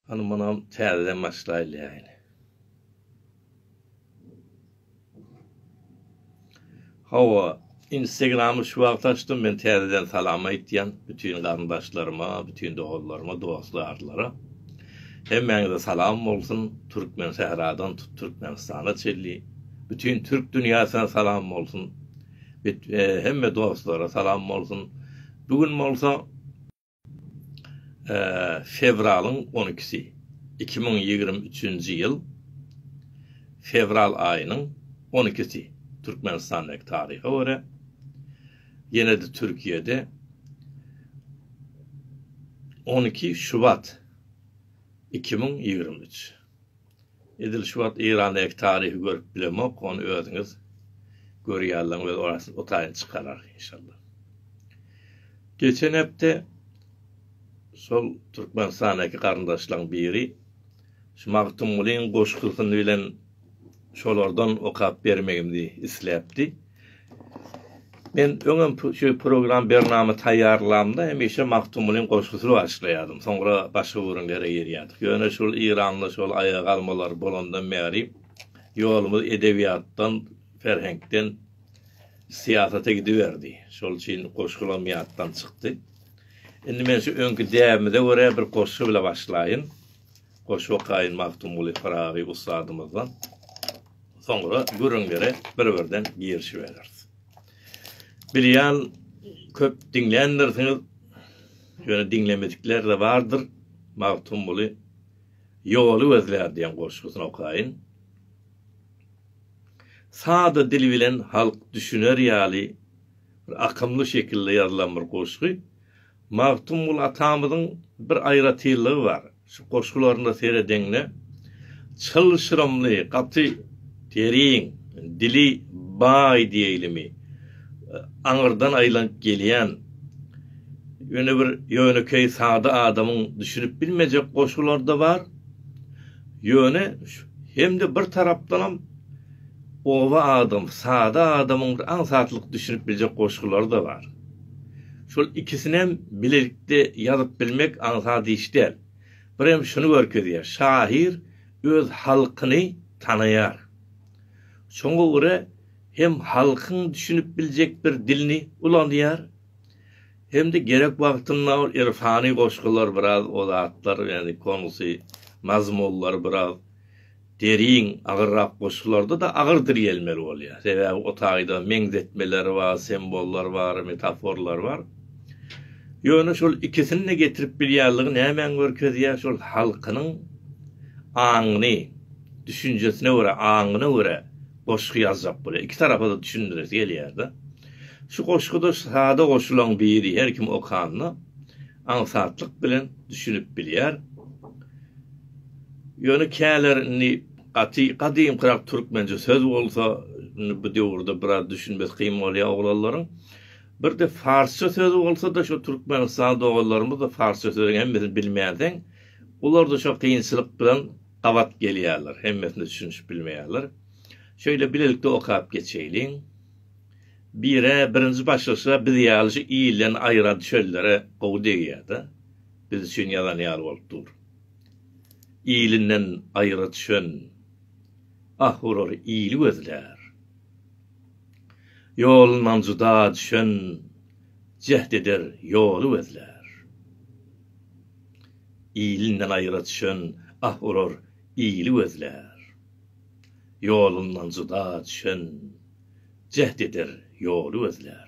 Hany munam täzeden başlaýlaýyn. Hawa, Instagramy şu wagt açdym, men täzeden salam aýtýan bütin garyndaşlaryma, bütin doganlaryma, dostlarlara. Hemmäňize salam bolsun, Türkmen sähradan tut Türkmenistana çenli, bütin türk dünýäsine salam bolsun. Hemme dostlara salam bolsun. Bu gün bolsa Fewralyň on ikisi, iki müň ýigrimi üçünji ýyl fewral aýynyň on ikisi Türkmenistandaky taryha görä, ýene-de Türkiýede on iki şubat iki müň ýigrimi üç. Edil şu wagt Eýrandaky taryhy görüp bilemok, ony özüňiz görýärleň öz orasyny otaýyn çykarar inşallah. Geçen hepde şol Türkmenistandaky garyndaşlaň biri şu Magtymgulyň goşgusyny bilen şolardan okap bermegimdi isläpdi. Men öňem şu program bernama taýýarlamda hemişe Magtymgulyň goşgusy başlaýardym. Soňra başga bir ýere girýärdik. Ýöne şul Eýranda şol aýaga galmalar bolandan bäri ýolumyz edebiýatdan, ferheňkden syýasata gidiberdi. Şol üçin goşgularym ýatdan çykdy. Indi men şu öňki däbimize görä bir goşgy bile başlaýyn. Goşgy okaýyn Magtymguly Pyragy ussadymyzdan. Soňra gürrüňlere bir-birden girişibereris. Bilýän, köp diňländirsiňiz, ýöne diňlemedikler-de bardyr, Magtymguly Ýoly gözlär diýen goşgusyny okaýyn. Sada dil bilen halk düşüner ýaly bir akymly şekilde ýazylan bir goşgy. Magtymguly atamyzyň bir aýratynlygy bar, şu goşgularyna seredeňde, çylşyrymly, gaty terin, dili baý diýeýlimi, aňyrdan aýlanyp gelýän, ýöne bir ýönekeý sada adamyň düşünip bilmejek goşgulary-da bar, ýöne hem-de bir tarapdanam oba adam, sada adamyň bir aňsatlyk düşünip biljek goşgulary-da bar. Şol ikisinem bilelikde ýazyp bilmek aňsat iş däl. Bir hem şuny görkezýär, şahyr öz halkyny tanaýar. Şoňa görä hem halkyň düşünip biljek bir dilini ulanýar, hem-de gerek wagtynda ol irfany goşgular biraz o zatlar, ýagny konusy, mazmunlary biraz Deriň agyrrak goşgularda-da agyr dirýelmeli bolýar. Sebäbi otaýda meňzetmeler bar, sembollar bar, metaforlar bar. Ýöne şol ikisini-de getirip bilýänligi nämäni görkezýär? Şol halkynyň aňyny, düşünjesine görä, aňyna görä goşgy ýazjak bolýar. Iki tarapa-da düşündiresi gelýär-de. Şu goşguda sada goşulaň biri her kim okanda aňsatlyk bilen düşünip bilýär. Ýöne käler indi gaty gadymkyrak türkmençe söz bolsa, indi bu döwürde biraz düşünmesi kyn bolýar oglanlaryň. Birde farsça söz bolsa-da, şo türkmenistanly doganlarymyz-da farsça sözüň hemmesini bilmänsoň, olar-da şo kynçylyk bilen gabat gelýärler, hemmesine düşünişip bilmeýärler. Şeýle bilelikde okap geçeýliň. Bir-ä birinji başlyşda biz ýaly şu ilden aýran çöllere gowy degýär-de, biz üçin ýazan ýaly bolup dur. Ilinden aýra düşen, ah urur ili gözlär. Ýolundan juda düşen, jäht eder ýoly gözlär. Ilinden aýra düşen, ah urur ili gözlär. Ýolundan juda düşen, jäht eder ýoly gözlär.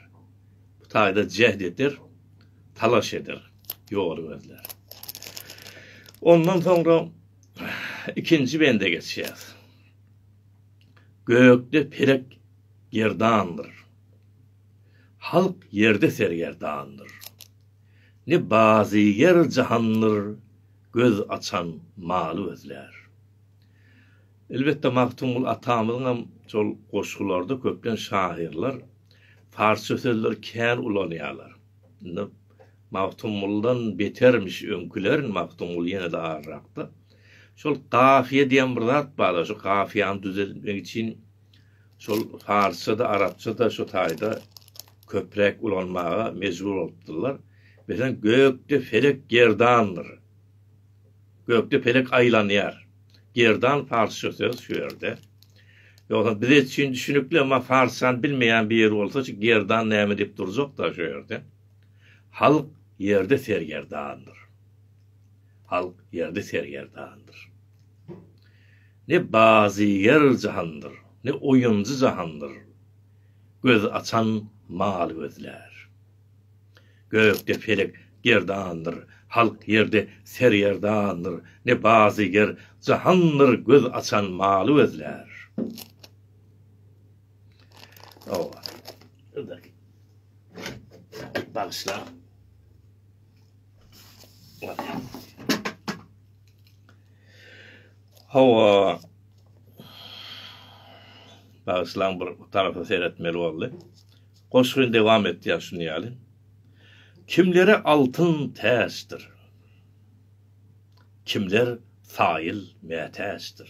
Bu taýda jäht eder, talaş eder, ýoly gözlär. Ondan soňra ikinji bende geçýäs. Gökde pelek gerdandyr. Halk ýerde sergerdandyr. Ne bazyger jahandyr, göz açan maly gözlär. Elbetde Magtymguly atamyzyňam şol goşgularda köplenç şahyrlar parsça sözleri kän ulanýarlar. Indi Magtymgulydan betermiş öňküler, Magtymguly ýene-de aryrakda. Şol gafiýe diýen bir zat bar-da, şu gafiýany düzeltmek üçin şol parsça-da, arapça-da şu taýda köpräk ulanmaga mejbur bolupdyrlar. Meselem, Gökde felek gerdandyr. Gökde pelek aýlanýar. Gerdan parsça söz şu ýerde. Ýogsa biz etçin düşünikli emma parsçany bilmeýän bir ýer bolsa şu gerdan näme diýip durjakda şu ýerde. Halk ýerde sergerdandyr. Halk ýerde sergerdandyr. Ne bazyger jahandyr, ne oýunjy jahandyr. Göz açan mal gözlär. Gökde pelek gerdandyr, halk ýerde sergerdandyr, ne bazyger jahandyr göz açan maly gözlär. Bagyşla. Hawa. Bagyşlaň bir tarapa seretmeli boldy. Goşgy dowam etýär şuny ýaly. Kimlere altyn täçdir. Kimler saýyl mätäçdir.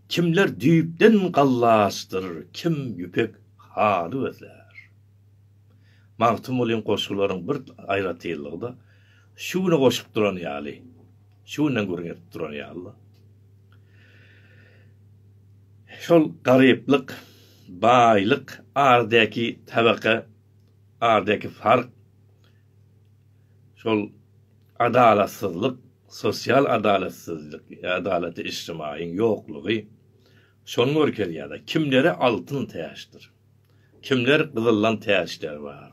Kimler düýpden gallaçdyr, kim ýüpek haly gözlär. Magtymgulyň goşgularyň bir aýratynlygy-da, şu güne goşup duran ýaly. Şu günden gürrüň edip duran ýaly-la. Şol garyplyk, baýlyk aradaky tabaka aradaky fark, şol adalatsyzlyk, sosial adalatsyzlyk, adalaty içtimaýyň ýoklugy şony görkezýär-de, kimlere altyn täçdir, kimler gyzyldan täçler bar,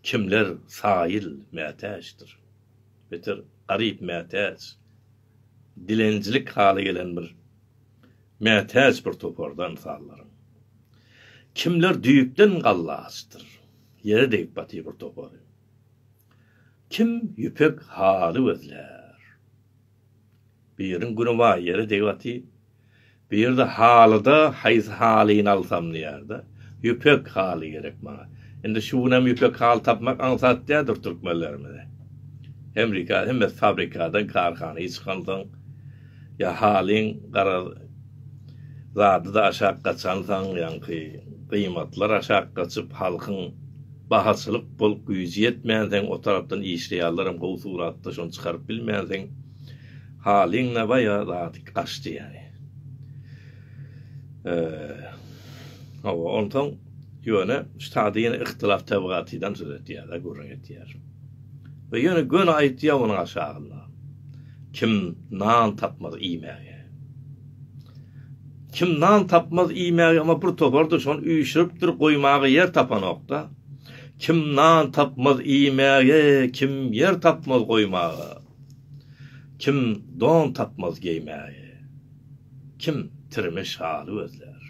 kimler saýyl mätäçdir. beter garyp mätäç, dilenjilik haly gelen bir mätäç bir toparda ynsanlaryň. Kimler düýpden galla açdyr, ýere degip batyr bir topary. Kim ýüpek haly gözlär. Biriň güni bar ýere degip aty. Biri-de halyda haýsy halyny alsam diýýär-de. Ýüpek haly gerek maňa. Indi şu gün hem ýüpek haly tapmak aňsat däldir türkmenlerimize. Hemrika hemmesi fabrikadan, karhana çykansoň ýa halyň garaz zady-da aşak gaçansoň, ýaňky gyýmatlar aşak gaçyp, halkyň bahaçylyk bolup güýji ýetmänsoň, o tarapdan işleýärlerem gowy suratda, şony çykaryp bilmänsoň, halyň-da baýa zady gaçdy ýaly. Hawa, onsoň, ýöne şu taýda ýene yhtilaf tebigatydan söz etýär-de, gürrüň etýär. We ýöne göni aýtýar onuň aşagynda. Kim nan tapmaz iýmäge. Kim nan tapmaz iýmäge, emma bir topar-da şony üýşüripdir, goýmaga ýer tapanok-da. Kim nan tapmaz iýmäge, kim ýer tapmaz goýmaga. Kim don tapmaz geýmäge. Kim tirmiş haly gözlär.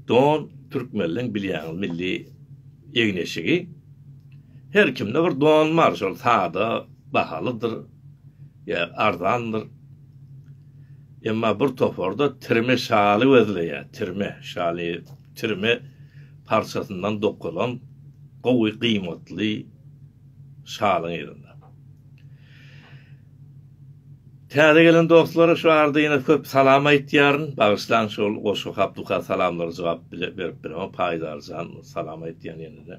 Don, türkmenleň bilýäňiz milli egin-eşigi. Her kimde bir don bar, şol sada, bahalydyr ýa arzandyr. Emma bir toparda tirme şaly gözleýär, tirme şaly, tirme parçasyndan dokalan gowy gyýmatly şalyň yzynda. Täze gelen dostlara şu arada ýene köp salam aýtýaryn. Bagyşlaň şol goşgy hap-duka salamlara jogap berip bilemok. Paýdarjan salam aýtýan ýene-de.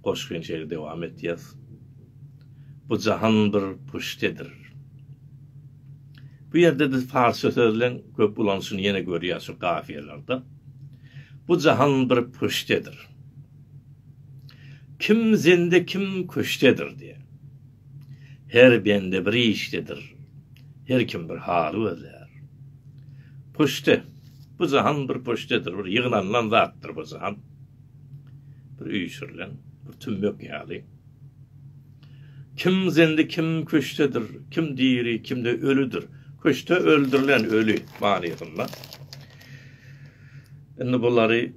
Goşgy şeýle dowam etýär. Bu jahan bir puştedir. Bu ýerde biz parsça sözleň köp ulanyşyny ýene görýäs şu kafiýalarda. Bu jahan bir puştedir. Kim zende kim küştedir diýýär. Her bende bir işdedir. Her kim bir haly gözlär. Puşte. Bu jahan bir puştedir. Bir ýygnanylan zatdyr bu jahan. Bir üýşürilen, bir tümmek ýaly. Kim zendi kim köşdedir, kim diri kimde ölüdir. Köşde öldürilen öli manysynda. Indi bulary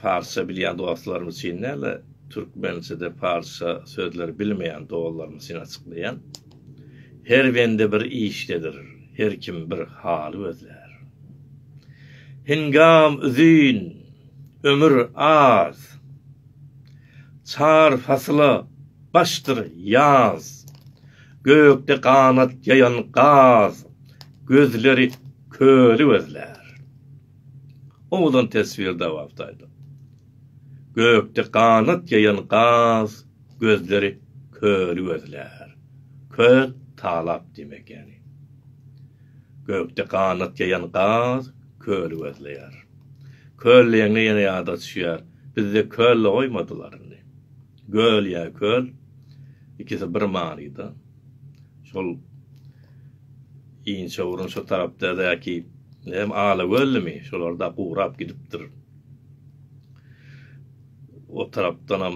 parsça bilýän dostlarym üçin däl-de türkmençede parsça sözleri bilmeýän dolarym üçin açyklaýan. Her bende bir işdedir, her kim bir haly gözlär. Hingam üzin, ömür az. Çar fasyla başdyr ýaz. Gökde ganat ýaýan gaz. Gözleri köli gözlär. Owadan teswir dawamyty aýdyň. Gökde ganat ýaýan gaz. Gözleri köli gözlär. Köl, talap diýmek ýaly. Gökde ganat ýaýan gaz köli gözleýär. Köl diýende ýene ýada düşýär. Bizde köl-de goýmadylar indi. Göl ýa köl, ikisi bir manyda. Şol Inçewrun şu tarapdadäki hem Alagöllimi, şolar-da gurap gidipdir. O tarapdanam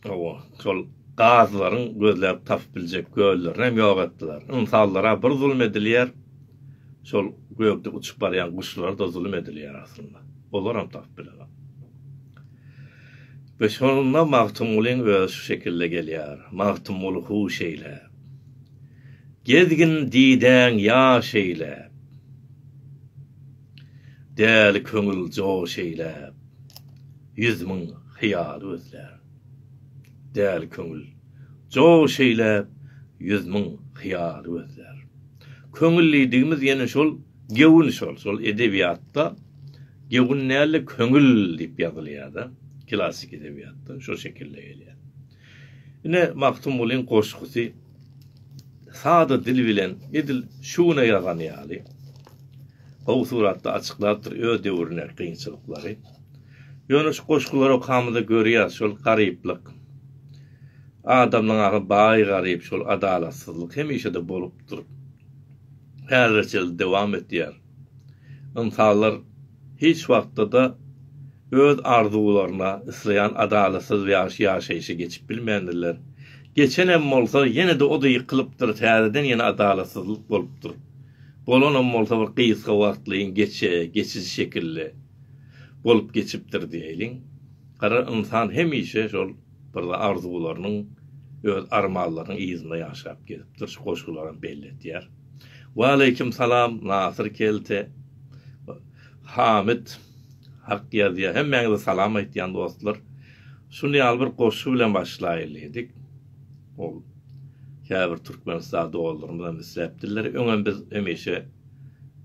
o şol gazlaryň gözläp tapyp biljek göllerini hem ýok etdiler. Ynsanlara bir zulum edilýär, şol gökde uçup barýan guşlara-da zulum edilýär aslynda. olaram tapyp bilerin. We şonda Magtymgulyň özi şu şekilde gelýär, Magtymguly huş eýle. Gezgin didäň ýaş eýle. Däli köňül joş eýle. Ýüz müň hyýal gözlär. Däli köňül joş eýle, ýüz müň hyýal gözlär. Köňül diýdigimiz ýene şol. Gewün şol, şol edebiýatda gewün dälde köňül diýip ýazylýada, klassyk edebiýatda şo şekilde gelýä. Ine Magtymgulyň goşgusy sada dil bilen edil şu güne ýazany ýaly gowy suratda açyklapdyr öz döwrüne kynçylyklary. Ýöne şu goşgulary okamyzda görýäs şol garyplyk, adamlaň ahy baý garyp şol adalatsyzlyk hemişede bolupdyr. häzirçeli dowam etýär. Ynsanlar hiç wagtda-da öz arzuwlaryna, isleýän adalatsyz ýaşaýşa geçip bilmändirler. Geçenem bolsa, ýene-de o-da ýykylypdyr, täzeden ýene adalatsyzlyk bolupdyr. Bolanam bolsa bir gysga wagtlaýyn geçe, geçiji şekilli bolup geçipdir diýeýliň. Gara ynsan hemişe şol Birde arzuwlarynyň, öz armanlarynyň yzynda ýaşap gezipdir, şu goşgularam belli etýär. Waleýkim salam, Nasyr kelte, Hamyt, Hak ýazýa, hemmäňize salam aýtýan dostlar. Şuny ýaly bir goşgy bilen başlaýyl diýdik. Ol käbir Türkmenistan doganlarymyz hem isläpdirler. Öňem biz hemişe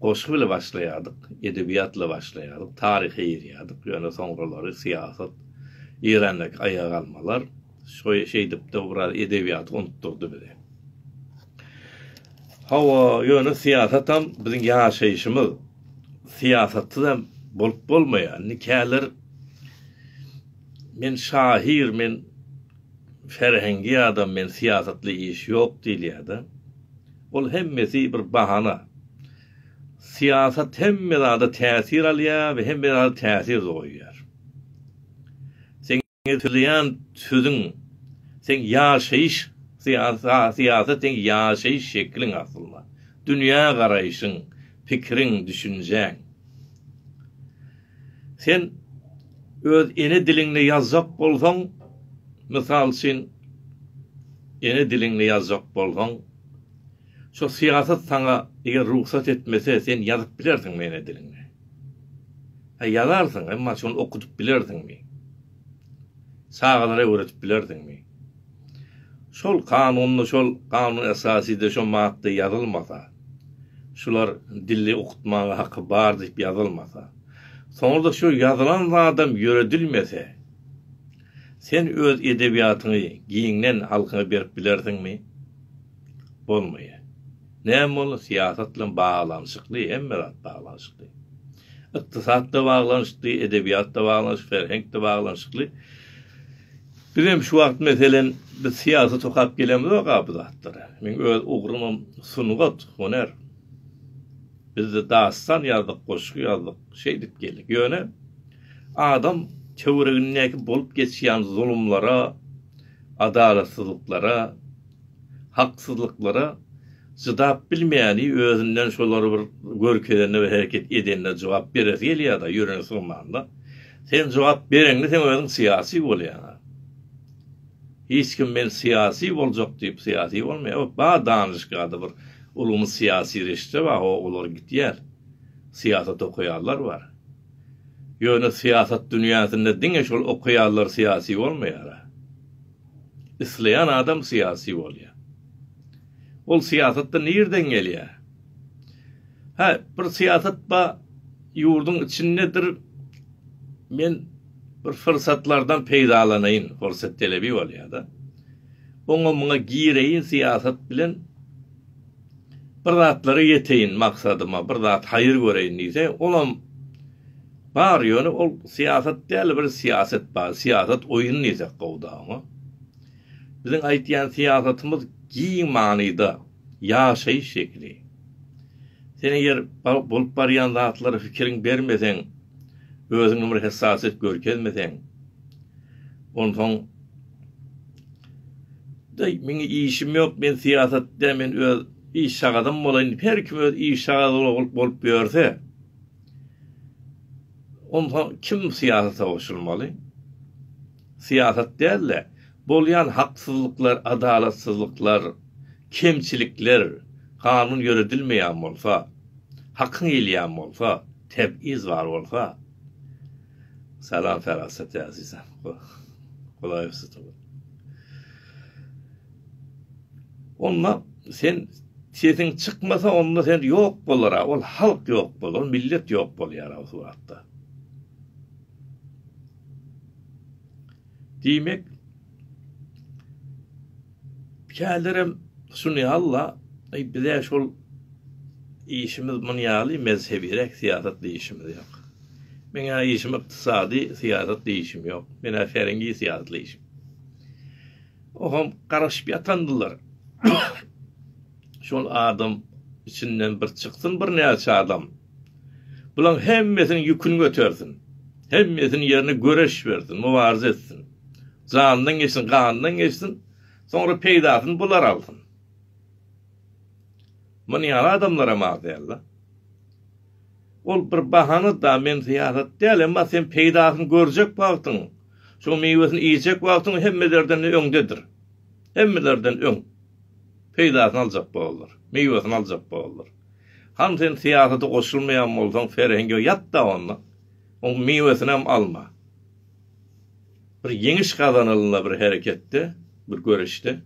goşgy bile başlaýardyk, edebiýat ile başlaýardyk, taryha ýerýärdik, ýöne soňralary syýasat, Eýrandaky aýagalmalar şeýdip-de biraz edebiýaty unutdyrdy bize. Hawa, ýöne syýasatam biziň ýaşaýşymyz. Syýasatsyz hem bolup bolmaýar. Indi käler men şahyr, men ferhengi adam, men syýasatly iş ýok diýilýär-de. Ol hemmesi bir bahana. Syýasat hemme zada täsir alýar we hemme zada täsir-de goýýar. Seňňe sözeýän sözüň seň ýaşaýyş syýasat seň ýaşaýyş şekliň aslynda. Dünýä garaýşyň, pikiriň, düşünjäň. Sen öz ene diliňde ýazjak bolsaň, mysal üçin ene diliňde ýazjak bolsaň, şo syýasat saňa eger rugsat etmese sen ýazyp bilersiňmi ene diliňde? Hä ýazarsyň, emma şony okudyp bilersiňmi? Çagalara öwredip bilersiňmi? Şol kanunda, şol kanun esasyda şo madda ýazylmasa, şular dili okutmaga haky bar diýip ýazylmasa, soňra-da şo ýazylan zadam ýöredilmese, sen öz edebiýatyňy giňden halkyňa berip bilersiňmi? Bolmaýar. Näme boldy, syýasat bilen baglanyşykly, hemme zat baglanyşykly. Ykdysat-da baglanyşykly, edebiýat-da baglanyşykly, ferhenk-de baglanyşykly. Bizem şu wagt, meselem, biz syýasat okap gelemizok-a bu zatlara. Meň öz ugrumam sungat, hunar. Biz-de dastan ýazdyk, goşgy ýazdyk, şeýdip geldik. Ýöne adam töweregindäki bolup geçýän zulumlara, adalatsyzlyklara, haksyzlyklara çydap bilmäni özünden şolar bir görkezende we hereket edende jogap beresi gelýärda ýüregi sygmanda sen jogap bereňde sen özüň syýasy bolýaňa hiç kim men syýasy boljak diýip syýasy bolmaýar ot bar danyşgada bir ulumyz syýasy reşitde bar ho olar gitýär syýasat okaýanlar bar ýöne syýasat dünýäsinde diňe şol okaýanlar syýasy bolmaýara. Isleýän adam syýasy bolýar. Ol syýasatda nirden gelýär? Hä, bir syýasat bar, ýurduň içindedir, men bir fursatlardan peýdalanaýyn, fursat talebi bolýar-da. Oňa-muňa gireýin syýasat bilen. bir zatlara ýeteýin maksadyma, bir zat haýyr göreýin diýse, olam bar, ýöne ol syýasat däl, bir syýaset bar, syýasat oýun diýsek gowuda oňa. Biziň aýtýan syýasatymyz giň manyda ýaşaýyş şekili. Sen eger bolup barýan zatlara fikiriň bermeseň, özüňe bir hessasýet görkezmeseň, onsoň, Daýy meň işim ýok, men syýasat dä, men öz iş sagadym bolaýyn, her kim öz iş sagady bolup bolup ýörse, onda kim syýasata goşulmaly? Syýasat däl-de, bolýan haksyzlyklar, adalatsyzlyklar, kemçilikler kanun ýöredilmeýän bolsa, hakyň gelýän bolsa, tebgiz bar bolsa, Salam Parasat Azizem. Golaýyp sytyp. Onda sen sesiň çykmasa onda sen ýok bolara, ol halk ýok bolar, millet ýok bolýar o suratda. Diýmek, kälerem Sunny Alla, eý, biz-ä şol işimiz muny ýaly mezhebiräk syýasat diýişimiz ýok. Meň-ä işim ykdysady syýasat diýişim ýok. Men-ä serengi syýasat diýişim. Oham garaşyp ýatandylar. Şol adam içinden bir çyksyn birnäçe adam. Bulaň hemmesiniň ýüküni götersin. Hemmesiniň ýerine göreş bersin, mubaryza etsin. Jandan geçsin, gandan geçsin. Soňra peýdasyny bular alsyn. Muny ýaly adamlaram az däl-de. Ol bir bahana da men syýasat däl, emma sen peýdasyny görjek wagtyň, şoň miwesini iýjek wagtyň hemmelerden öňdedir. Hemmelerden öň peýdasyny aljak bolarlar, miwesini aljak bolarlar. Hany sen syýasata goşulmaýan bolsaň serhengiňe ýat-da onda. Oň miwesinem alma. Bir ýeňiş gazanylanda bir hereketde, bir göreşde,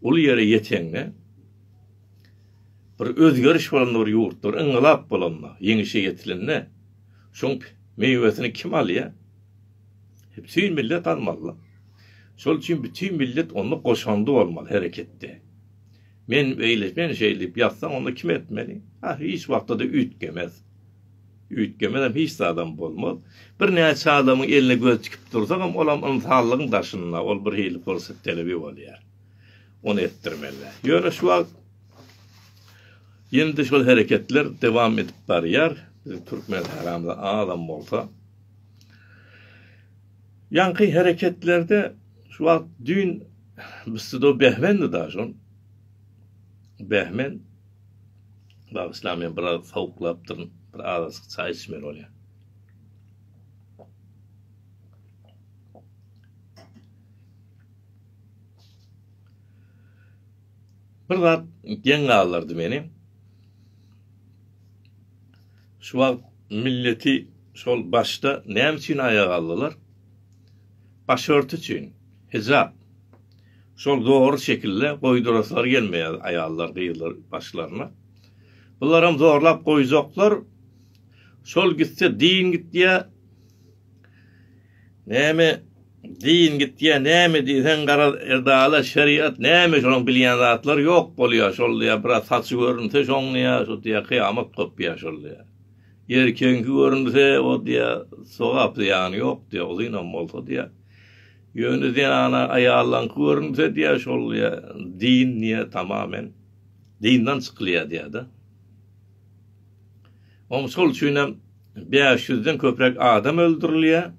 uly ýere ýeteňde, bir özgeriş bolanda bir ýurtda, bir yngylap bolanda, ýeňişe ýetilende şoň miwesini kim alýar? Bütin millet almaly-la. Şol üçin bütin millet onda goşandy bolmaly hereketde. Men beýle, men şeýle diýip ýazsaň, onda kim etmeli? Hah, hiç wagtda-da üýtgemez. Üýtgemezem, hiç zadam bolmaz. Birnäçe adamyň eline göz tikip dursagam, olam ynsanlygyň daşynda, ol birhili pursat talebi bolýar. Ony etdirmeli. Ýöne şu wagt ýene-de şol hereketler dowam edip barýar. Biziň türkmen sahrasynda azam bolsa. Ýaňky hereketlerde şu wagt düýn bsdo behmendi daş ol. Behmen. Bagyşla men biraz sowuklapdyryn. Bir azajyk çaý içmeli bolýan. Bir zat geň galdyrdy meni. Şu wagt milleti şol başda näme üçin aýaga aldylar? Başörti üçin, hijap. Şol dogry şekilde goýduraslary gelmeýär aýallar, gyzlar başlaryna. Bularam zorlap goýjaklar. Şol gitse din gitýär. Näme din gitýä näme diýseň garaz edalat şeriat näme şonuň bilýän zatlar ýok bolýa şol diýä biraz saçy görünse şoň diýä şu diýä kyýamat gopýa şol diýä erkegiňki görünse o diýä sogap zyýany ýok diýä uzynam bolsa diýä ýöne zenana aýallaňky görünse diýä şol diýä din diýä tamamen dindan çykylýa diýä-de. Oň şol üçin hem bäş ýüzden köpräk adam öldürilýär.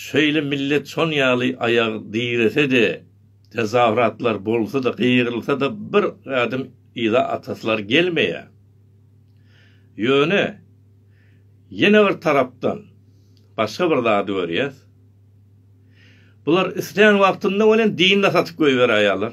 Şeýle millet şon ýaly aýagy direse-de, tezawratlar bolsa-da, gygyrylsa-da bir gadym yza atasylar gelmeýär. Ýöne, ýene bir tarapdan başga bir zady görýäs. Bular islän wagtynda welin dinini satyp goýberäýýärler.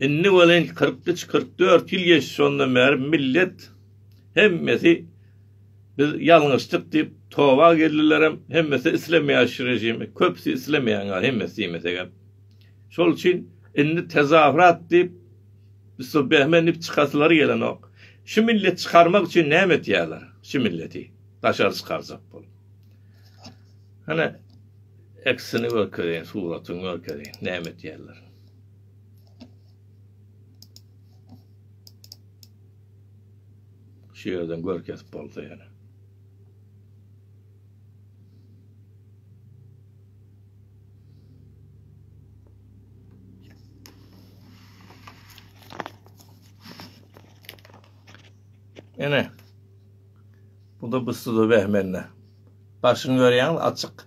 Indi welin kyrk üç, kyrk dört ýyl geçdi şondan bäri millet hemmesi biz ýalňyşdyk diýip toba geldilerem, hemmesi islemeýär şu režimi, köpüsi islemeýär ýaly hemmesi diýmesegem. Şol üçin indi tezahürat diýip so behme nip çykasylary gelenok. Şu milleti çykarmak üçin näme etýärler? Şu milleti daşary çykarjak bolup. Hany eksini görkezeýin, suratyny görkezeýin, näme etýärler? Şu ýerden gör kesip bolsa ýene. Ene. Bu da bu suda behmenne. Başyny görýäňiz açyk.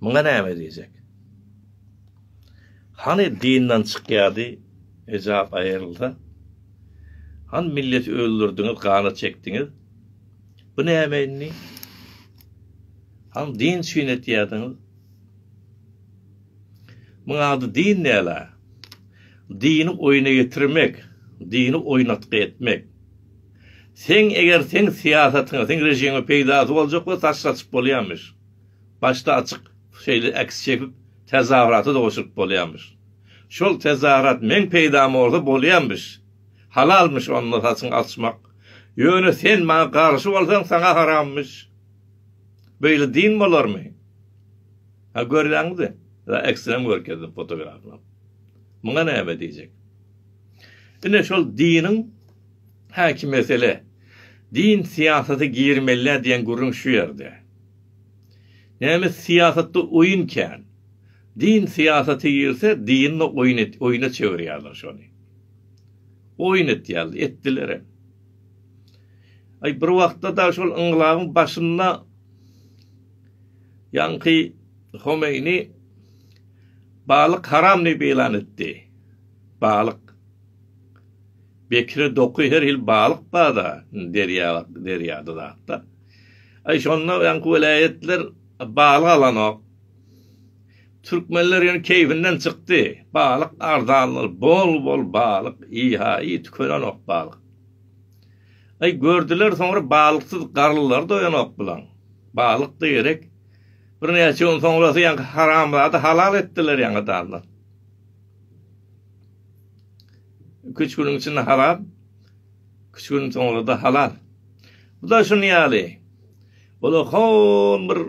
Muňa näme diýjek? Hany dindan çykýady hijap aýrylsa? Hany milleti öldürdiňiz gana çekdiňiz? Bu näme indi? Hany din üçin etýädiňiz? Muň ady din däla. Dini oýna getirmek, dini oýnatgy etmek. Seň eger seň syýasatyňa seň rejiňe peýdasy boljak bolsa taşlatyp bolýamyş. Başda açyk şeýle äks çekip tezahyrata-da goşulyp bolýarmyş. Şol tezahyrat meň peýdama bolsa bolýamyş. Halalmyş onda saçyňy açmak. Ýöne sen maňa garşy bolsaň saňa haramyş. Beýle din bolarmy? Ha görýäňizmi? Ýa äksinem görkezdim fotografynam. Muňa näme diýjek? Ine şol diniň häki mesele. Din syýasata girmelidä diýen gürrüň şu ýerde. Näme syýasatda oýun kän. Din syýasata girse dini oýun et oýuna çewirýärler şony. Oýun etýärler, etdilerem. Aý bir wagtda da şol yngylabyň başynda ýaňky Homeýni balyk haram diýip ýylan etdi. Balyk. Bekire doky her hil balyk barda derýa derýada zatda. Aý şonda ýaňky welaýatlar balyk alanok. Türkmenler ýöne keýpinden çykdy. Balyk arzandyr, bol-bol balyk, iýhaýy tükenenok balyk. Aý gördüler soňra balyksyz garlylar doýanok bulaň. Balyk-da gerek. Birnäçe gün soňrasy ýaňky haramzada halal etdiler ýaňy danda. Iki-üç günüň içinde haram, iki-üç günüň soňra-da halal. Bu-da şuny ýaly. Olar hol bir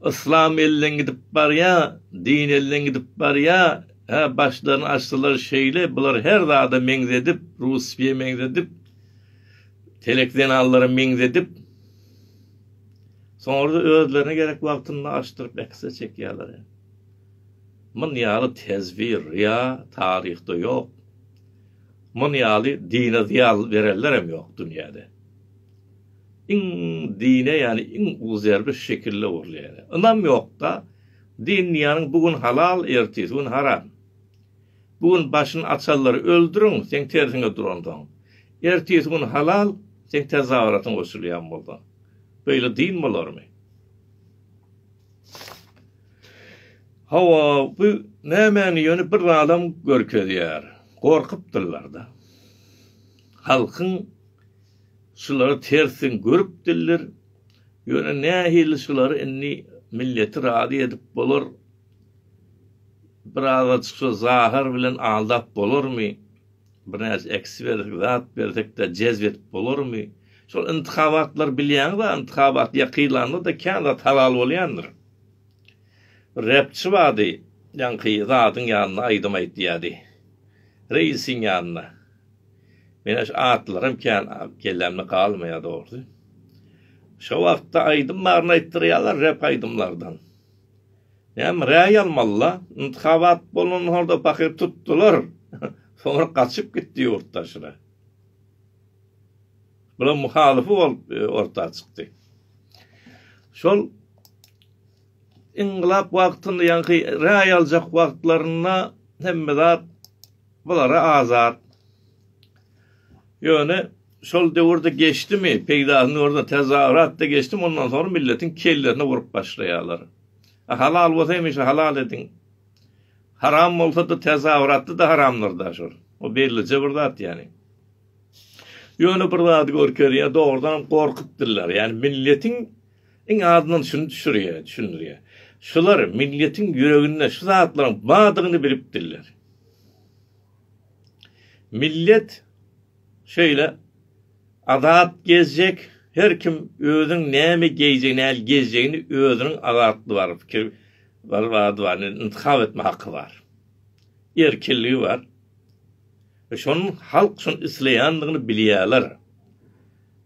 Yslam elden gidip barýar, din elden gidip barýar, hä, başlaryny açsalar şeýle, bular her zada meňzedip, Russiýa meňzedip, telekzenallara meňzedip, soňra-da özlerine gerek wagtynda açdyryp ekse çekýärler. Mun ýaly tezwir, ryýa taryhda ýok. Muny ýaly dine zyýan berenlerem ýok dünýäde. Iň dine ýani iň uly zerbe şekille urulýan. Ynam ýokda din diýýäniň bu gün halal ertesi gün haram. Bu gün başyny açanlary öldüriň seň tersiňe duransoň. Ertesi gün halal seň tezawaratyň goşulýan bolsa. Beýle din bolarmy. Hawa, bu nämäni ýöne bir zadam görkezýär. Gorkupdyrlar-da. Halkyň şulary tersiň görüpdirler. Ýöne nähili şulary indi milleti razy edip bolar? Birazajyk şo zahar bilen aldap bolarmy? Birnäçe eks bersek, zat bersek-de jezp edip bolarmy? Şol yntykabatlar bilýäňiz-ä, yntykabat ýakylanda-da kän zat halal bolýandyr. Bir repçi bardy, ýaňky zadyň ýanynda aýdym aýtýardy. Reisiň ýanynda. Menä şu atlaram kän kellämde galmaýar dogrusy. Şo wagtda aýdym baryny aýtdyrýarlar rep aýdymlardan. Näme raý almalyda? Yntyhabat bolan horda pahyr tutdular. Soňra gaçyp gitdi ýurt daşyna. Bular muhalyfy bolup orta çykdy. Şol yngylat wagtynda ýaňky raý aljak wagtlarynda hemme zat bulara azat. Ýöne Şol döwürde geçdimi, peýdasyny görse tezagratda geçdimi ondan soňra milletiň kellerini urup başlaýarlar. A halal bolsa hemişe halal ediň. Haram bolsada tezagratda da haramdyr da şol. O bellije bir zat ýani. Ýöne bir zady görkezýär dogrudanam gorkup diller. Ýani milletiň iň azyndan şuny düşürýär, düşündirýär. Şular milletiň ýüreginde şu zatlaryň bardygyny bilip diller. Millet Şeýle azat gezjek, her kim özüniň näme geýjegini, nähili gezjegini özüniň azatlygy bar, pikir bar, bady bar, intihap etme haky bar. Erkinligi bar. We şonuň halk şony isleýändigini bilýärler.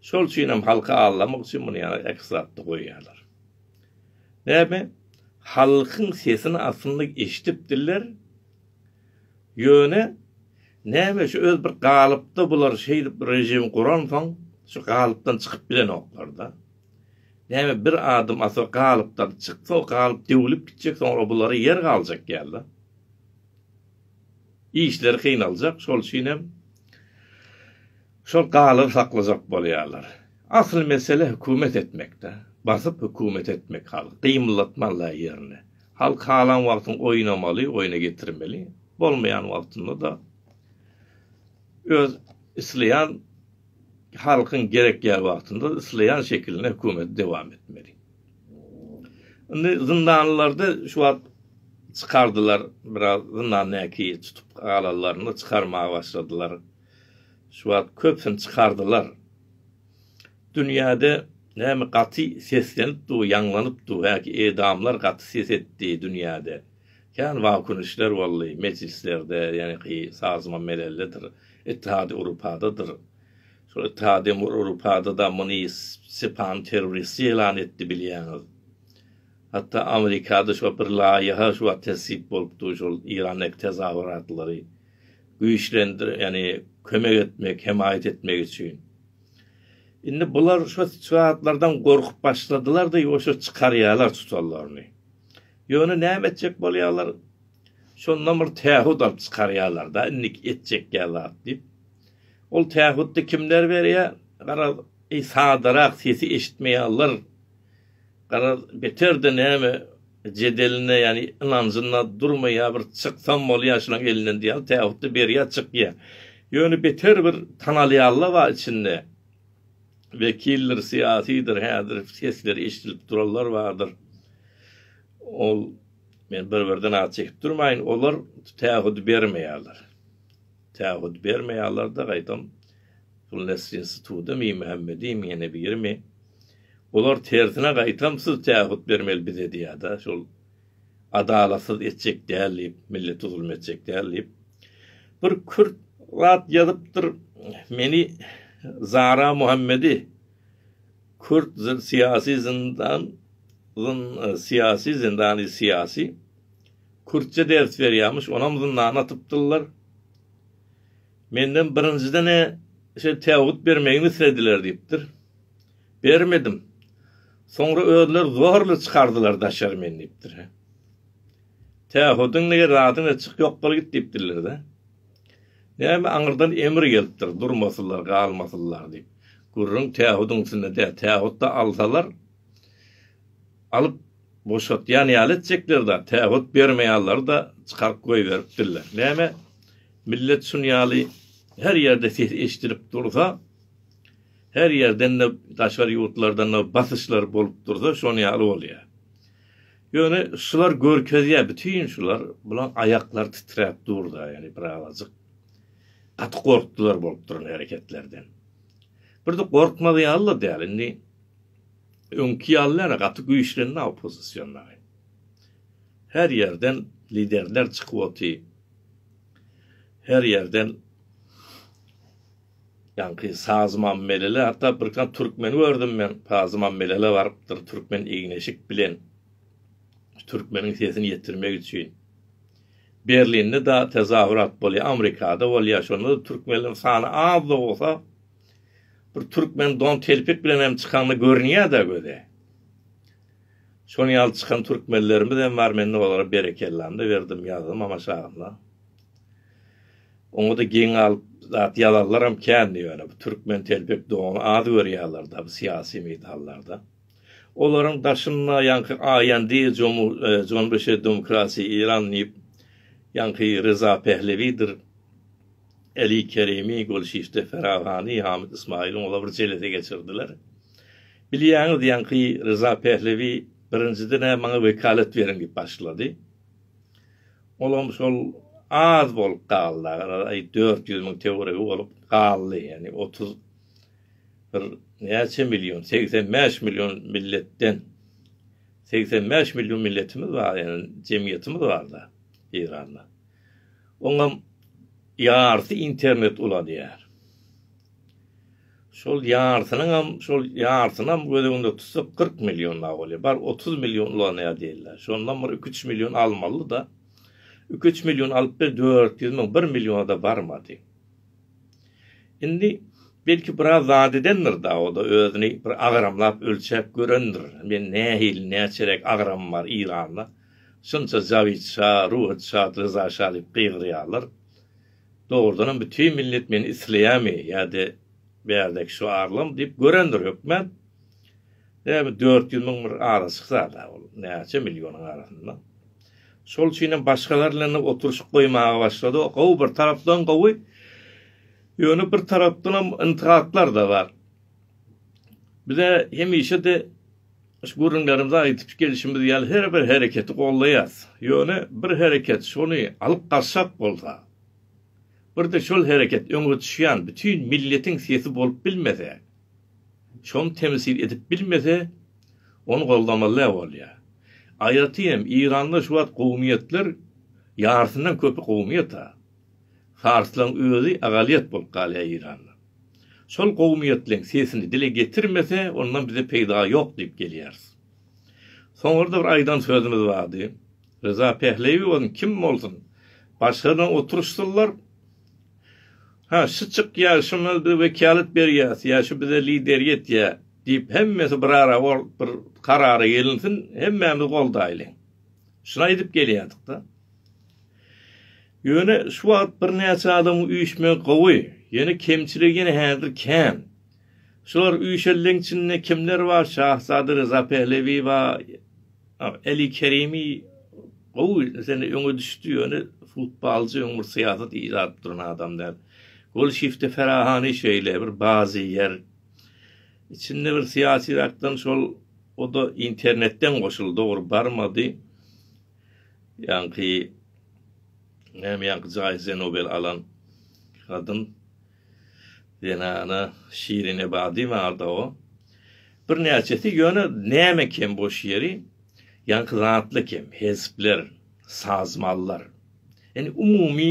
Şol üçin hem halky aldamak üçin muny ýa ek zatda goýýarlar. Näme? Halkyň sesini aslynda eşidipdirler. Ýöne, näme şu öz bir galypda bular şeýdip režim guransoň şu galypdan çykyp bilenoklar-da. Näme bir adam asa galypdan çyksa o galyp döwülip gitjek soňra bulara ýer galjak ýaly. Işleri kynaljak şol üçinem şol galyby saklajak bolýarlar. Asyl mesele hökümet etmekde. Basyp hökümet etmek halky gymyldatman-la ýerine. Halk halan wagtyň oýnamaly, oýna getirmeli, bolmaýan wagtynda-da öz isleýän halkyň gerekýän wagtynda isleýän şekilinde hökümeti dowam etmeli. Indi zyndanlylarda şu wagt çykardylar, biraz zyndandäki tutup galanlaryny çykarmaga başladylar. Şu wagt köpüsini çykardylar. Dünýäde näme gaty seslenip dur, ýaňlanyp dur, häki edamlar gaty ses etdi dünýäde. Kän wakuň işler boldy, mejlislerde, ýaňky sazman meleldedir, Ittihady Urupada'dyr. Şol Ittihady Urupada-da muny Stepan terrorist ýelan etdi bilýäňiz. Hatda Amerikada şo bir laýyha şu wagt tesip bolupdy, şol Irandaky tezahuratlary güýçlendir, ýagny kömek etmek, hemaýat etmek üçin. Indi bular şo zatlardan gorkup başladylar-da, ýuwaşja çykarýarlar tutanlaryny. Ýöne näme etjek bolýarlar? Şondan bir tähut alyp çykarýarlar-da, indik etjek ýa zat diýip. Ol tähutdy kimler berýär? Garaz, eý sadarak sesi eşitmeýärler. Garaz, beter-de näme jedelinde, ýagny ynanjynda durmaýar, bir çyksam bolýar şulaň elinden diýýär, tä hutda berýär, çykýar. Ýöne beter bir tanalýanla bar içinde. Wekildir, syýasydyr, häzir sesleri eşidilip duranlar bardyr. Ol, men bir-birden at çekip durmaýyn, olar tä hut bermeýärler. Tä hut bermeýärler-de, gaýtam, Pulnestrinstituda Miýmämmediň ýene birimi, Olar tersine gaýtamsyz tähut bermeli bize diýada şol adalatsyz etjek däl diýip millete zulum etjek däl diýip bir kürt zat ýazypdyr meni Zara Muhammedi kürt syýasy zyndan zyn syýasy zyndany syýasy kürtçe ders berýämiş onam zyndana atypdyrlar. Menden birinjiden-ä şeý täwüt bermegimi islediler diýipdir. Bermedim. Soňra özleri zorla çykardylar daşary meni diýipdir. Täwüdiň nege zadyň-a çyk ýok bol git diýipdirler-dä. Näme aňyrdan emir gelipdir, durmasynlar, galmasynlar diýip. Gürrüň täwüdiň üstünde däl. Täwüt-de alsalar, Alyp boşatýan ýaly etjekler-dä, tähut bermeýanlary-da çykaryp goýberipdirler. Näme, millet şun ýaly her ýerde ses eşidilip dursa, her ýerden-de daşary ýurtlardan basyşlar bolup dursa, şon ýaly bolýar. Ýöne şular görkezýär, bütin şular, bulaň aýaklary titräp dur-da, ýöne birazajyk gaty gorkdular bolup duran hereketlerden. Bir-de gorkmaz ýaly-da däl, indi. Öňki ýaly näme gaty güýçlendi oppozision dagy. Her ýerden liderler çykyp oty. Her ýerden ýaňky Saz Mammelele hatda birkan türkmeni gördüm men Saz Mammelele barypdyr türkmen egneşik bilen türkmeniň sesini ýetirmek üçin. Berlinde da tezahürat bolýar Amrikada bolýar şonda da türkmenleriň sany az da bolsa Bir türkmen don telpek bilenem çykanda görünýär-dä göze. Şonuň ýaly çykan türkmenlerimiz hem bar, men-de olara berekellam-da berdim, ýazdym amaşagyna. Oňa-da geň galyp zat ýazanlaram kändi ýöne bu türkmen telpek dony az görýärler-dä bu syýasy meýdanlarda. Olaryň daşynda ýaňky Aýandy, Jomu, e, Jonbeşe demokratiýa Iran diýip, ýaňky Reza Pehlewidir. Eli Kerimi, golşişde Ferhat Hany, Hamid Ysmaýylyň ola bir jelesi geçirdiler. Bilýäňiz, ýaňky Ryza Pählewi birinjiden-ä maňa wekalet beriň diýip başlady. Olam şol az bolup galdy, agaraly dört ýüz müň töweregi bolup galdy, ýagny otuz bir näçe million, segsen bäş million milletden, segsen bäş million milletimiz bar, ýagny jemgyýetimiz bar-da Eýranda. Oňam ýarsy internet ulanýar. Şol ýarsynyňam, şol ýarsynam göz öňünde tutsak kyrk million awalýa. Bar otuz million ulanýar diýilýär. Şondan bir iki-üç million almaly-da. Iki-üç million alyp bir dört ýüz müň, bir milliona-da barmady. Indi belki biraz zat edendir-da, o-da özüni bir agramlap ölçäp görendir. Men nähili, näçeräk agramym bar Eýranda? Şunça Jawid şa, Ruhut şa, Ryza şa diýip gygyrýarlar. Dogrudanam bütin millet meni isleýärmi ýa-da bärdäki şu arlam diýip görendir hökmän. Ýa bu dört ýüz müň bir arasyk zada ol, näçe millionyň arasynda. Şol üçin hem başgalar bilen oturyşyk goýmaga başlady. O gowy bir tarapdan gowy. Ýöne bir tarapdanam yntygatlar-da bar. Bize hemişe-de Şu gürrüňlerimizi aýdyp gelşimiz ýaly her bir hereketi goldaýarys. Ýöne bir hereket şony alyp gaçjak bolsa, bir-de şol hereket öňe düşýän bütin milletiň sesi bolup bilmese, şony temsil edip bilmese, ony goldamaly-ä bolýar. Aýratyn hem Eýranda şu wagt kowumyýetler ýarysyndan köpi kowumyýet-a. Farslaryň özi agalyýet bolup galýar Eýranda. Şol gowumiýetleň sesini dile getirmese, ondan bize peýda ýok diýip gelýäris. Soňra-da bir aýdan sözümiz bardy. Ryza Pähleýewi bolsun, kim bolsun, başgadan oturyşsyzlar. Ha, şu çykýar, şuna biz wekýalyt berýäs ýa şu bize lideri etýär diýip, hemmesi birara bolup bir karara gelinsin, hemmämiz goldaýlyň. Şulaý edip gelýärdik-de. Ýöne şu wagt birnäçe adamyň üýşmegi gowy, ýöne kemçiligi ýene häzir kän. Şular üýşenleň içinde kimler bar, Şahzada Ryza Pehlewi bar, Eli Kerimi gowy sene öňe düşdi, ýöne futbalçy öň bir syýasat iýjap duran adam däl. Gol şifte Ferahani şeýle bir bazy ýer. Içinde bir syýasyrakdan şol Oda internetden goşuldy dogry barmady. Ýaňky näme ýaňky jaýze Nobel alan gadym zenana Şirin Ebadi barda o. Bir näçesi ýöne näme kem boş ýeri ýaňky zatly kem hezpler, sazmallar. Ýani umumy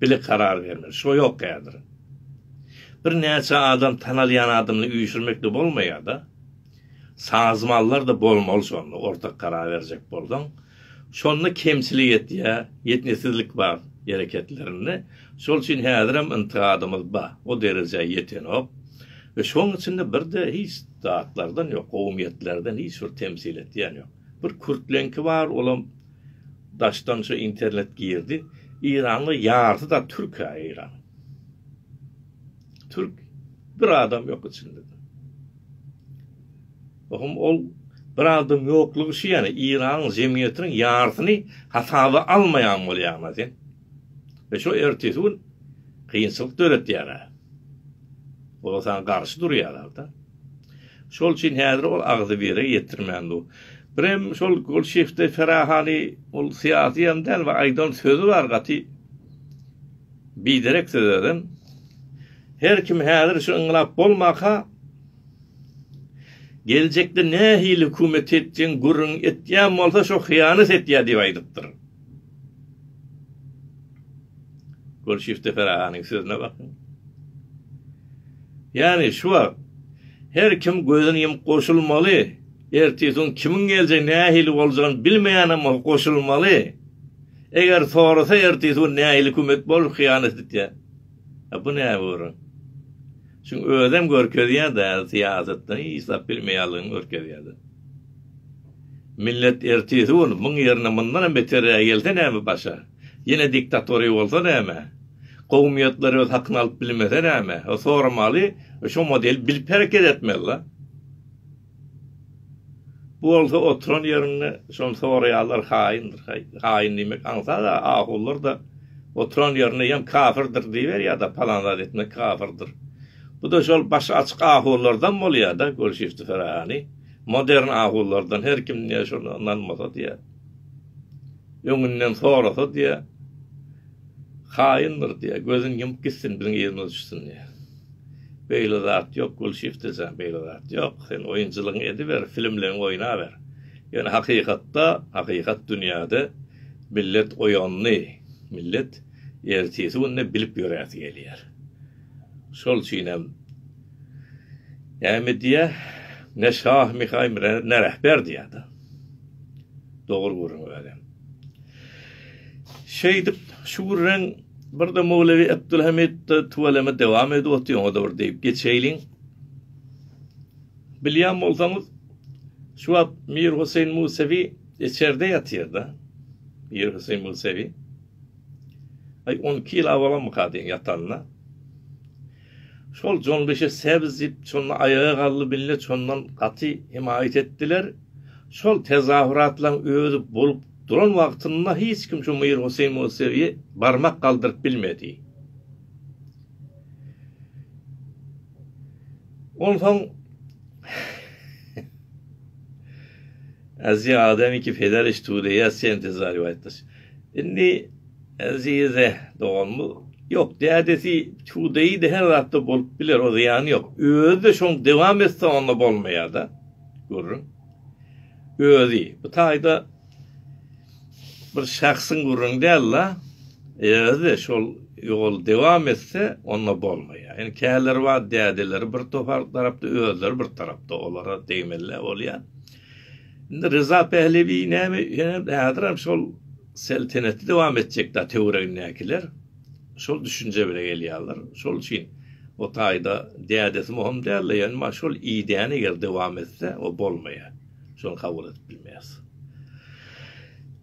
Bile karar bermeli. Şo ýok häzir. Bir näçe adam tanalýan adamyny üýşürmekde bolmaýada. Sazmallarda bolmaly şonda ortak karar berjek bolsaň. Şonda kemçilik etýä, ýetnisizlik bar ereketlerinde. Şol üçin häzirem yntigadymyz ba, o derejä ýetenok. We şoň içinde birde hiç zatlardan ýok, gowumyýetlerden hiç bir temsil etýän ýok. Bir kürtleňki bar, olam Daşdan şu internet girdi. Iranly ýarysy da türk ha Iran. Türk bir adam ýok içinde. Ohm ol bir adam ýoklugy şu ýany Iran jemgyýetiniň ýarysyny hasaba almaýan bolýarma sen. we şo ertesi gün kynçylyk döretýär-ä. Olar saňa garşy durýarlar-da. Şol üçin häzir ol agzybire ýetirmän dur. Birem şol Golşiewde Ferahany ol syýasy ýan däl we aýdan sözi bar gaty biderek söz özem. Her kim häzir şu yňlap bolmaka geljekde nähili hökümet etjegini gürrüň etýän bolsa şo hyýanat etýär diýip aýdypdyr. Gülşifte Ferahanyň sözüne bakyň. Ýani şu wagt her kim gözüni ýumup goşulmaly, ertisiň kimiň geljegi nähili boljagyny bilmeýänem bolup goşulmaly. Eger sorasa ertisi gün nähili kömek bolar hyýanat etýär. A bu näme görüň. Şu özem görkezýär-de syýasatdan hiç zat bilmeýänligini görkezýär-de. Millet ertesi gün muň ýerine mundanam beterägi gelse näme başa? Ýene diktatoriýa bolsa näme? Kowumyýetler öz hakyny alyp bilmese näme? O soramaly, şo model bilip hereket etmeli-la. Bu bolsa oturan ýeriňde şony soraýarlar haýyndyr haý. Haýyn diýmek aňsat-a, ahuwlar-da oturan ýerinde ýam kafirdir diýiberýär-de, palan zat etmek kafirdir. Bu-da şol başy açyk ahuwlardan bolýar-da, görşüpdi Fergany. Modern ahuwlardan her kim diýýär şuna ynanmasa diýýär. Öňünden sorasa diýýär. Haýyndyr diýýär. Gözüni ýumup gitsin biziň ýerimize düşsün diýýär. Beýle zat ýok Gulşyh dese beýle zat ýok. Sen oýunçylygyňy ediber, filmleňi oýnaber. Ýöne hakykatda, hakykat dünýäde millet oýandy. Millet ertesi günde bilip ýöresi gelýär. Şol üçin hem näme diýýär, Ne şah Mihaý, ne rähber diýýär-de. Dogry gürrüň welin. Şeýdip, şu gürrüň birde Mowlewi Abdulhamytda tüweleme dowam edip otyr, oňa-da bir degip geçeýliň. Bilýän bolsaňyz, şu wagt Mir Huseýin Musewi içerde ýatyr-da. Mir Huseýin Musewi. Aý, on iki ýyl awalamyka diýen ýatanyna. Şol Jonbeşe sebz diýip, şonda aýaga galdy millet, şondan gaty hemaýat etdiler. Şol tezahüratlaryň özi bolup duran wagtynda hiç kim şu Mir Huseýn Musewiýe barmak galdyryp bilmedi. Onsoň Aziýa Adem iki Federişt Tudeýa Sentezar Ýuaýtdaş. Indi Azize dogan bu Ýok, dädesi çuwdaýydy, her zatda bolup biler, o zyýany ýok. Özi-de şoň dewam etse onda bolmaýar-da. Gürrüň. Özi. Bu taýda bir şahsyň gürrüňi däl-la. Özi-de şol ýoly dewam etse onda bolmaýar. Ýöne käleri bar, dädeleri bir topar tarapda, özleri bir tarapda, olara degmeli-ä bolýar. Indi Ryza Pählewi näme ýöne häzirem şol selteneti dowam etjek da töweregindäkiler şol düşünje bile gelýärler. Şol üçin o taýda dädesi möhüm däldi, ýöne şol ideýany eger dowam etse o bolmaýar. Şony kabul edip bilmeýäs.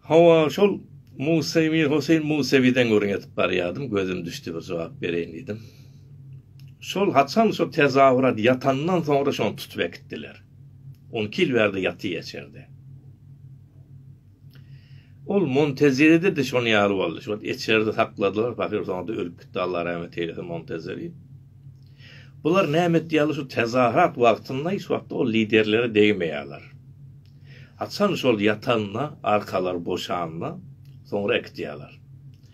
Hawa, şol Musa Mir Hoseýn Musewiden gürrüň edip barýardym, gözüm düşdi bir jogap bereýin diýdim. Şol haçan şo tezawrat ýatandan soňra şony tutup äkitdiler. On iki ýyl bärde ýatyr eçerde. Ol Montezeride-de şonuň ýaly boldy. Şol eçerde sakladylar, pahyr soňra-da ölüp gitdi, Allah rahmet eýlesin Montezeri. Bular näme etýärler, şu tezaharat wagtynda hiç wagtda ol liderlere degmeýärler. Haçan şol ýatanda, arkalary boşanda, soňra äkitýärler.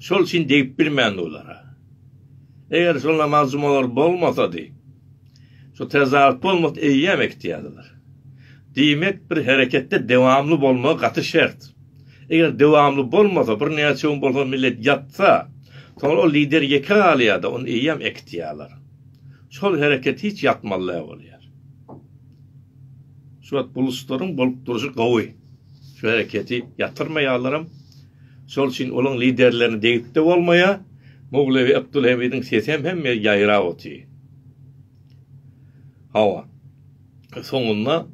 Şol üçin degip bilmändi olara. Eger şol namaz jumalar bolmasady, şu tezarat bolmasdy eýýäm ekitýärdiler. Diýmek, bir hereketde dewamly bolmagy gaty şert. Eger dewamly bolmasa, birnäçe gün bolsa millet ýatsa, soňra ol lider ýeke galýar-da, ony eýýäm ekitýärler. Şol hereket hiç ýatmaly däl bolýar. Şu wagt buluslaryň bolup durşy gowy. Şu hereketi ýatyrmaýarlaram. Şol üçin olaň liderlerine degip-de bolmaýar. Mowlewi Abdulhamidiň sesem hemme ýaýrap otyr. Hawa. Soňunda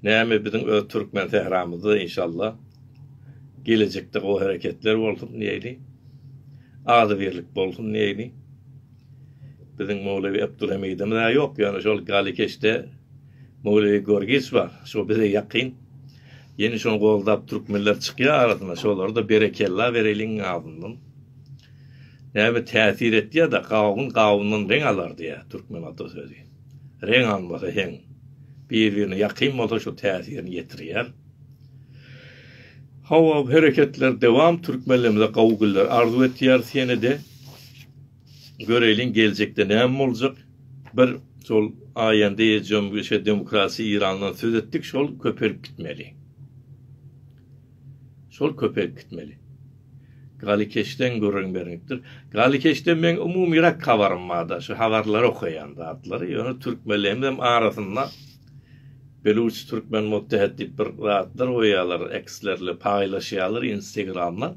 näme biziň öz türkmen sähramyzda inşallah gelejekde gowy hereketler bolsun diýeli. Agzybirlik bolsun diýeli. Biziň Mowlewi Abdulhamidimiz a ýok, ýöne şol Galikeşde Mowlewi Gorgiç bar. Şo bize ýakyn. Ýene şony goldap türkmenler çykýar arasyna şolarda berekella bereliň azyndan. Näme täsir etýär da gawun gawundan reň alar diýär türkmen ata sözi. Reň almasa heň bir birine ýakyn bolsa şo täsirini ýetirýär. Hawa bu hereketler dewam türkmenlerimize gowy günler arzuw etýäris ýene-de. Göreýliň geljekde näme boljak. Bir şol Aýanda ejem şu demokratiýa Irandan söz etdik şol köpelip gitmeli. Şol köpelip gitmeli. Galykeşden gürrüň berňipdir. Galykeşden meň umumyrak habarym barda şu habarlary okaýan zatlary ýöne türkmenlerimizem arasynda Beluç Türkmen Muttehet diýip bir zatlar goýýarlar ekslerle paýlaşýarlar instegramda.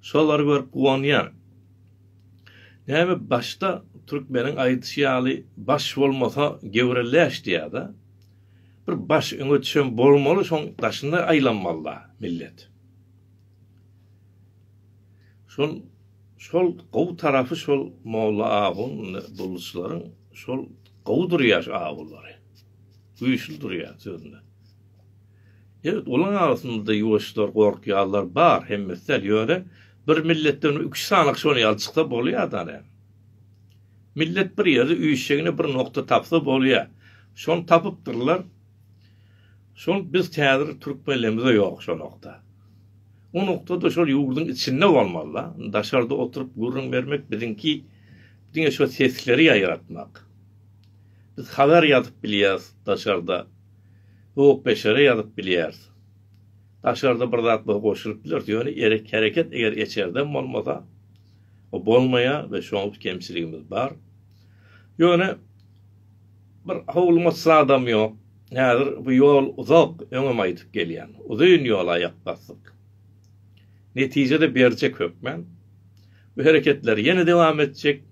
Şolary görüp guwanýan. Näme başda türkmeniň aýdyşy ýaly baş bolmasa gewre läş diýada. Bir baş öňe düşen bolmaly şoň daşynda aýlanmalda millet. Şol şol gowy tarapy şol molla awuň dulluçylaryň şol gowy durýar awulary. Güýçli durýar sözünde. Ýöt olaň arasynda ýuwaşlar gorkýarlar bar hemmesi däl ýöne Bir milletden üç sanyk şol ýaly çyksa bolýar dane. Millet bir ýerde üýşjegine bir nokta tapsa bolýar. Şony tapypdyrlar. Şol biz häzir türkmenlerimizde ýok şo nokta. O noktada şol ýurduň içinde bolmaly-da. Daşarda oturyp gürrüň bermek biziňki diňe şo sesleri ýaýratmak. Biz habar ýazyp bilýäris daşarda. Höwpbeşere ýazyp bilýäris. Daşarda bir zat biz goşulyp bileris, ýöne erek hereket eger eçerden bolmasa, o bolmaýar we şoň üç kemçiligimiz bar. Ýöne bir howlumytsy adam ýok. Häzir bu ýol uzak, öňem aýdyp gelýän. Uzyn ýola aýak basdyk. Netije-de berjek hökmän. Bu hereketler ýene dowam etjek.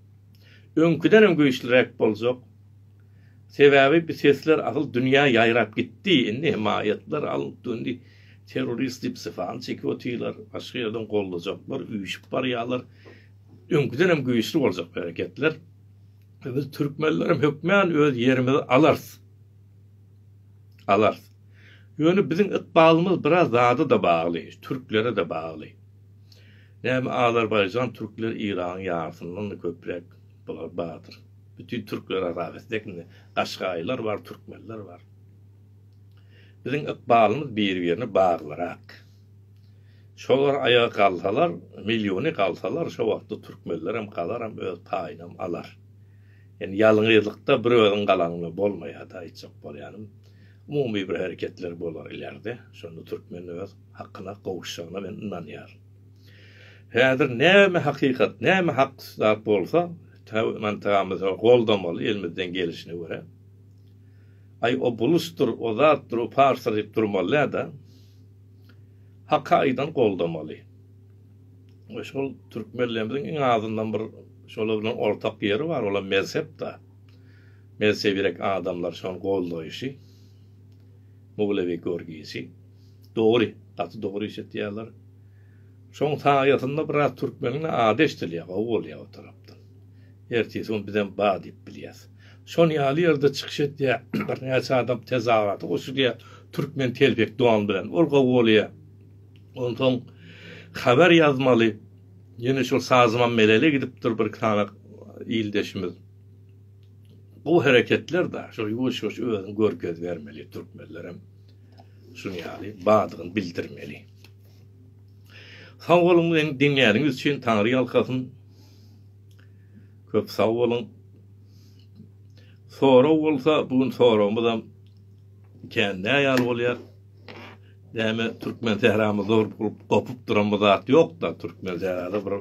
Öňküdenem güýçliräk boljak. Sebäbi bi sesler asyl dünýä ýaýrap gitdi indi hemaýatlar alnyp döndi terrorist diýip syfany çekip otyrlar başga ýerden goldajaklar üýşip barýalar öňkidenem güýçli boljak bi hereketler biz türkmenlerem hökmän öz ýerimizi alarys alarys ýöne biziň ykbalymyz biraz zada da bagly türklere de bagly näme azerbaýjan türkler iragyň ýarysyndan da köpräk Bular bardyr. Bütin türkler arabesinde ekinde gaşgaýlar bar, türkmenler bar. Biziň ykbalymyz bir-birine baglyrak. Şolar aýaga galsalar, milliony galsalar, şo wagtda türkmenlerem galaram öz paýynam alar. Ýani ýalňyzlykda bir özüň galaňda bolmaýada aýtjak bolýanym. Umumy bir hereketler bolar ilerde. Şonda türkmen öz hakyna gowuşjagyna men ynanýaryn. Häzir näme hakykat, näme hak zat bolsa, täw mantygymyza goldamaly elimizden gelişine görä. Aý o bulusdyr, o zatdyr, o parsdyr diýip durmalydä-da. Haka aýdan goldamaly. We şol türkmenlerimiziň iň azyndan bir şolar bilen ortak ýeri bar, olam mezhep-da. Mezhebirek adamlar şony goldaýşy. Mowlewi görgisi. Dogry, gaty dogry iş etýärler. Şoň saýasynda biraz türkmeniň ady eşdilýär, gowy bolýar o tarapda. Ertesi gün bizem bar diýip bilýäs. Şon ýaly ýerde çykyş etýär, birnäçe adam tezahurata goşulýar, türkmen telpek don bilen, ol gowy bolýar. Onsoň habar ýazmaly, ýene şol Sazman Melele gidip dur bir iki sany ildeşimiz. Bu hereketler-de, şol ýuwaş-ýuwaş özüni görkez bermeli türkmenlerem. şuny ýaly bardygyny bildirmeli. Sag boluň meni diňläniňiz üçin Taňry ýalkasyn. Köp sag boluň. Sorag bolsa bu gün soragymyz hem kän näýal bolýar. Näme türkmen sähramyz zor bolup gopup duran bu zat ýokda türkmen sährada bir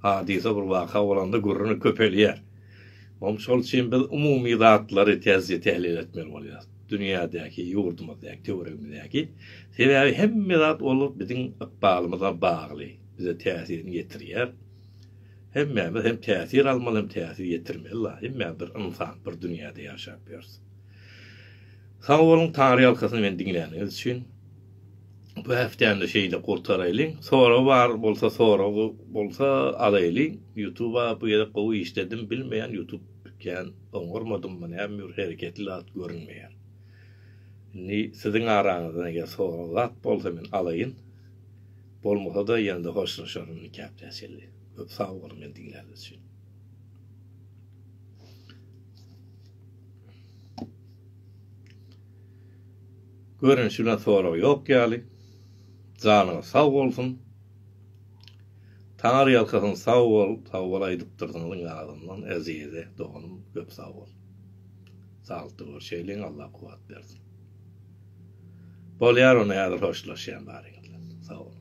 hadysa bir waka bolanda gürrüňi köpelýär. Oň şol üçin biz umumy zatlary täzje tählil etmeli bolýar. dünýädäki, ýurdumyzdaky, töweregimizdäki, sebäbi hemme zat ol biziň ykbalymyza bagly, bize täsirini ýetirýär. Hemmämiz hem täsir almaly, hem täsir ýetirmeli la, hemmämiz bir ynsan, bir dünýäde ýaşap ýörüs. Sag boluň, Taňryýalkasyn meni diňläniňiz üçin. Bu häftäni şeýle gurtaraýlyň. Sorag bar bolsa, soragy bolsa alaýlyň. Ýutuba bu gezek gowy işledim, bilmeýän ýutub Kän oňarmadymmy näme bir hereketli zat görünmeýär. Indi siziň araňyzdan eger sorag zat bolsa men alaýyn. Bolmasa-da ýene-de hoşlaşaryn nikap täsirli. Köp sag boluň meni diňläniz üçin. Görünişi bilen sorag ýok ýaly. Janyňyz sag bolsun. Taňyrýalkasyn sag bol sag bol aýdypdyrsyň yň azyndan Ezize doganym köp sag bol. Saglykda görşeýliň Allah kuwat bersin. Bolýar onda häzir hoşlaşýan baryňyz bilen. Sag boluň.